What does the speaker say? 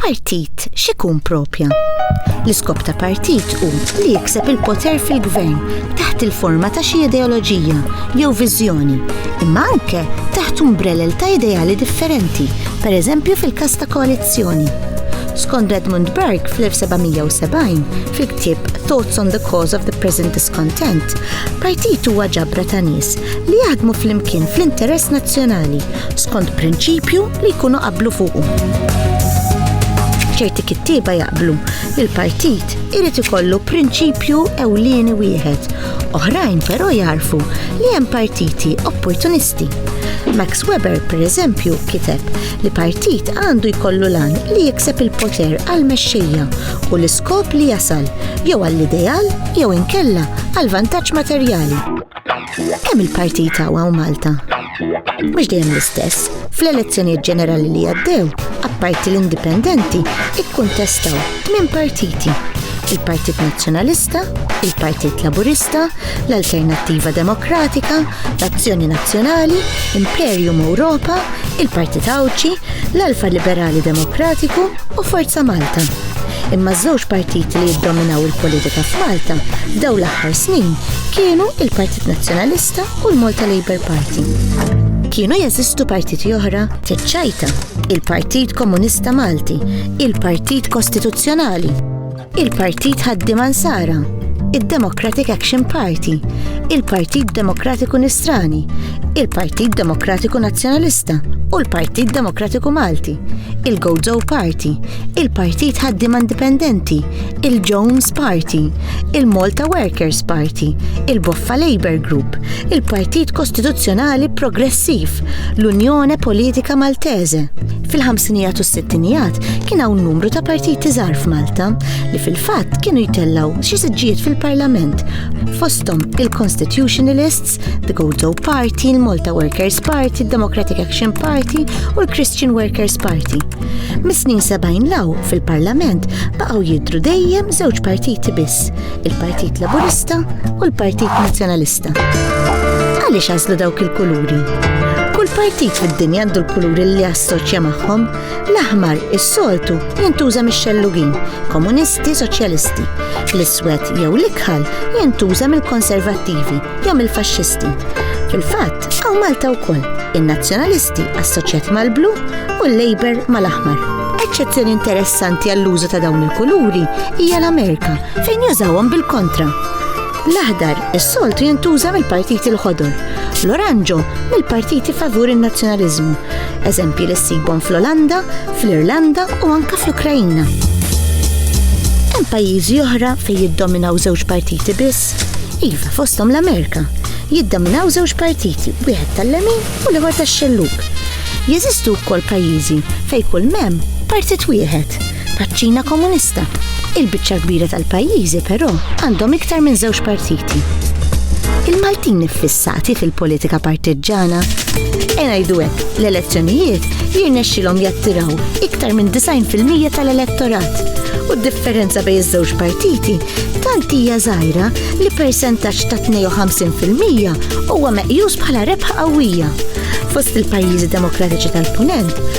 Partit x'ikun propja? L-iskop ta' partit hu li jikseb il-poter fil-gvern taħt il-forma ta' xi ideoloġija jew viżjoni, imma anke taħt umbrellel ta' ideali differenti, pereżempju fil-każ ta' koalizzjoni. Skont Edmund Burke fl-1770 fil-ktieb Thoughts on the Cause of the Present Discontent, Partit huwa ġabra ta' nies li jaħdmu flimkien fl-interess nazzjonali skont prinċipju li jkunu qablu fuqu. Ċerti kittieba jaqblu li l-partit irid ikollu prinċipju ewlieni wieħed, oħrajn però jarfu li hemm partiti opportunisti. Max Weber, pereżempju, kiteb li partit għandu jkollu lan li jikseb il-poter għal mexxejja u l-iskop li jasal jew għall-ideal jew inkella għal vantaġġ materjali. Kemm il-partit għaw Malta? Mhux dejjem l-istess, fl-elezzjonijiet ġenerali li għaddew, apparti l-indipendenti, ikkuntestaw minn partiti il-Partit Nazzjonalista, il-Partit Laburista, l-Alternattiva Demokratika, l-Azzjoni Nazzjonali, Imperium Ewropa, il-Partit Għawdxi, l-Alfa Liberali Demokratiku u Forza Malta. Imma żewġ partiti li jiddominaw il-politika f'Malta f'daw l-aħħar snin kienu il-Partit Nazzjonalista u l-Malta Labour Party. Kienu jeżistu partiti oħra teċċajta, il-Partit Komunista Malti, il-Partit Kostituzzjonali, il-Partit Ħaddiema Nsara, id-Democratic Action Party, il-Partit Demokratiku Nisrani, il-Partit Demokratiku Nazzjonalista u l-Partit Demokratiku Malti, il-Gozo Party, il-Partit Ħaddiema Indipendenti, il-Jones Party, il-Malta Workers Party, il-Boffa Labour Group, il-Partit Kostituzzjonali Progressiv, l-Unjone Politika Maltese, Fil-ħamsinijat u s-sittinijat kien hawn numru ta' partiti żgħar f'Malta li fil-fatt kienu jtellgħu xi siġġijiet fil-Parlament fosthom il-Constitutionalists, the Goldo Party, il-Malta Workers Party, il-Democratic Action Party u l-Christian Workers Party. Mis-snin 70 law fil-Parlament baqgħu jidru dejjem żewġ partiti biss, il-Partit Laburista u l-Partit Nazzjonalista. Għaliex għażlu dawk il-kuluri? Kull partit fid-dinja għandu l-kuluri li jassoċja magħhom. L-aħmar is-soltu jintuża mix-xellugin, komunisti, soċjalisti. L-iswed jew l-ikħal jintuża mill-konservattivi jew mill-faxxisti. Fil-fatt, għaw Malta wkoll, in-nazzjonalisti assoċjat mal-blu u l-Labor mal-aħmar. Eċċezzjoni interessanti għall-użu ta' dawn il-kuluri hija l-Amerika fejn jużawhom bil-kontra L-aħdar is-soltu jintuża mill-partiti l-ħodor, l-oranġo mill-partiti favur in-nazzjonaliżmu, eżempji li ssibhom fl-Olanda, fl-Irlanda u anke fl-Ukrajina. Hemm pajjiżi oħra fejn jiddominaw żewġ partiti biss, iva fosthom l-Amerika, jiddominaw żewġ partiti, wieħed tal-lemin u l-ieħor tax-xellug. Jeżistu wkoll pajjiżi fejn kull mem partit wieħed Paċ-Ċina Komunista. Il-biċċa l-kbira tal-pajjiżi però għandhom iktar minn żewġ partiti. Il-Maltin iffissati fil-politika partiġġana. E ngħidu hekk, l-elezzjonijiet jirnexxilhom jattiraw iktar minn 90% tal-elettorat u d-differenza bejn iż-żewġ partiti tant hija żgħira li persentaġġ ta' 52% huwa meqjus bħala rebħa qawwija. Fost il-pajjiżi demokratiċi tal-Punent